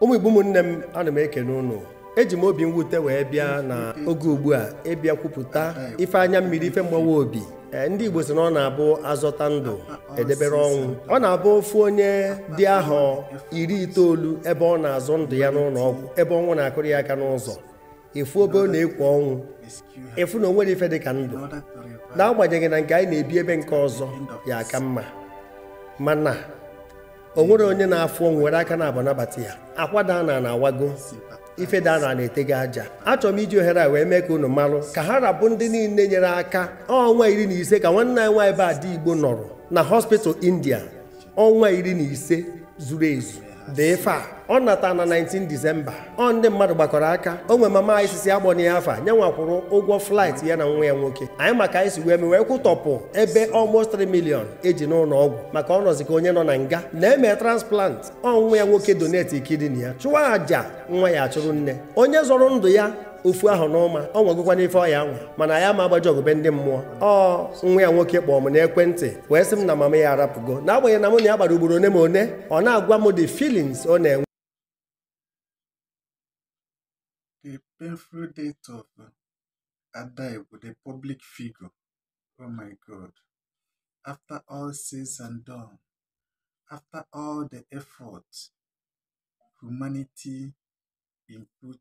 ụmụ igbo ụmụnne m ana m ekene unu eji m obi mwute wee bịa na oge ugbu a ịbịa kwupụta ife anya mmiri ife mgbawa obi Eh, ndị Igbo sị na ọ na-abụ azọta ndụ edebere ọnwụ ọ na-abụ ofu onye dị ahọ iri itoolu ebe ọ na-azọ ndụ ya n'ụlọ ọgwụ ebe ọnwụ na-akụrụ ya aka n'ụzọ ị fụ ebe ọ na-ekwo ọnwụ ị fụ na o nwere ife dị ka ndụ n'agbanyeghị na nke anyị na-ebi ebe nke ọzọ ya aka mma mana o nwere onye na-afụ ọnwụ were aka naabọ nabata ya akwa daa ana na-awago ife daa ana na-etego aja achọrọ m iji ohere a wee mee ka unu malụ ka ha ra bụ ndị niile nyere aka ọnwa iri na ise ka nwanne anyị nwaanyị bụ ada igbo nọrọ na hospital india ọnwa iri na ise zuru ezu dị ife a ọ nata na 19 disemba ọ ndị mmadụ gbakọrọ aka o nwe mama anyị sị sị akpọna ya afa nye nwa kwụrụ ụgwọ flight ya na nwa ya nwoke anyị ma ka anyị si wee mee wee kwụtọpụ ebe almost 3 million eji n'ụlọ ọgwụ maka ọ nọzi ka onye nọ na nga na-eme transplant ọ nwa ya nwoke donate kidney ya chụọ aja nwa ya achụrụ nne onye zọrọ ndụ ya ofu ahọ n'ụma ọ nwagokwanụ ife ọ ya-anwa mana ya ama agbaje ọgụ be ndị mmụọ ọ nwa ya nwoke kpọọ m n'ekwentị wee sị m na mama ya arapụgo n'agbanyeghị na mụ na ya kpara ugboro one ma one ọ na-agwa m the feelings ọ na-enwe The painful death of Ada Igbo, the public figure. Oh my God. After all said and done, after all the effort humanity input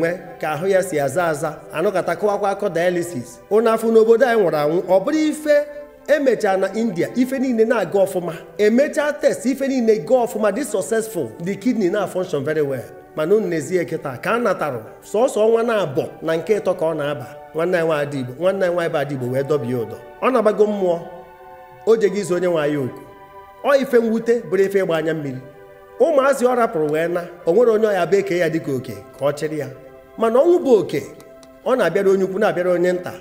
nwe ka ahụ ya si aza aza anọkata kọwakwa akọ dialysis unu afụ n'obodo anyị nwụrụ anwụ ọ bụrụ ife emechaa na india ife niile na-aga ọfụma emechaa test ife niile gaa ọfụma dị successful the kidney na-function very well mana unu nezie kịta ka a natara sọsọ ọnwa naabọ na nke ịtọ ka ọ na-aba nwanne anyị nwaanyị Ada Igbo nwanne anyị nwaanyị bụ Ada Igbo wee dọbie ụdọ ọ na-agbago mmụọ o jego ịza onye nwe anyị oku ọ ife mwute bụrụ ife ịgba anya mmiri ụmụazị ọ rapụrụ wee naa o nwere onye ọ ya-abụ e kee ya dịka oke ka ọ chịrị ya mana ọnwụ bụ oke ọ na-abịara onye ukwu na-abịara onye nta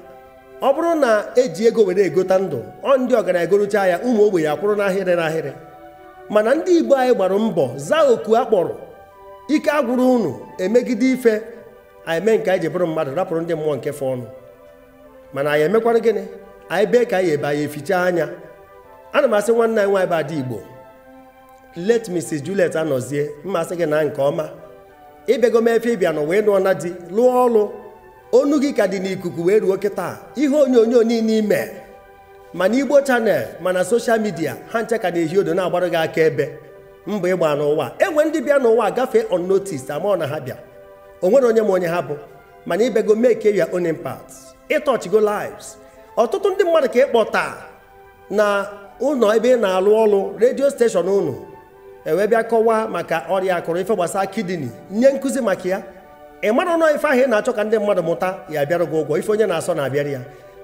ọ bụrụ na eji ego were egota ndụ ọ ndị ọgaranya egorocha ya ụmụ ogbenye akwụrụ n'ahịrị n'ahịrị mana ndị igbo anyị gbara mbọ zaa oku a kpọrọ ike agwụrụ unu emegide ife a na-eme nke anyị ji bụrụ mmadụ rapụrụ ndị mmụọ nke fọọnụ mana anyị emekwara gịnị anyị bee ka anyị ebe anyị eficha anya ana m asị nwanne anyị nwaanyị bụ ada igbo late Mrs. Juliet anọzie m asị gị naa nke ọma ị bịago mee ife ị bịa n'ụwa ị nụọ na di lụọ ọlụ onu gị ka dị n'ikuku wee ruo kịta ihe onyonyo niile i mee ma na igbo channel ma na soshal midia ha ncha ka na-ehi odo na-agbara gị akaebe mbọ ị gbaa n'ụwa e nwe ndị bịa n'ụwa gafee unnoticed amarọ na ha bịa o nwere onye ma onye ha bụ mana ị bịago make your own impact ị touchigo lives ọtụtụ ndị mmadụ ka ịkpọta na ụnọ ebe ị na-alụ ọrụ redio steshọn unu ewee bịa kọwaa maka ọrịa akụrụ ife gbasara kidney nye nkụzi maka ya ị marọ na ife ahụ ị na-achọ ka ndị mmadụ mụta ya bịara gị ụgwọ ife onye na-asọ na-abịara ya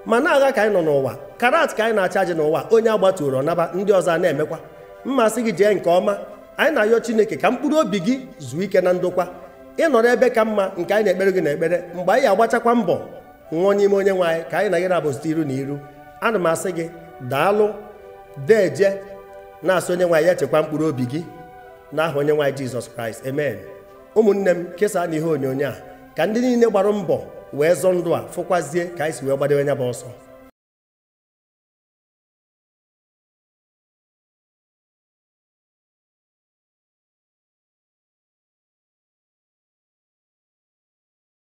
mana agha ka anyị nọ n'ụwa karat ka anyị na-achaji n'ụwa onye agbatuoro ọ naba ndị ọzọ a na-emekwa m asị gị jee nke ọma anyị na-ayọ chineke ka mkpụrụ obi gị zuo ike na ndokwa ị nọrọ ebe ka mma nke anyị na-ekpere gị na-ekpere mgbe anyị agbachakwa mbọ nwụọ n'ime onye nwe anyị ka anyị na gị na-abụzite iru na iru ana m asị gị daalụ deje na-asị onye nwe anyị ya chekwa mkpụrụ obi gị n'aha onye nwe anyị jizọs kraịst amen ụmụnne m kesaanụ ihe onyonyo a ka ndị niile gbara mbọ wee zọọ ndụ a fụkwazie ka anyị si wee gbadewe nya bụ ọsọ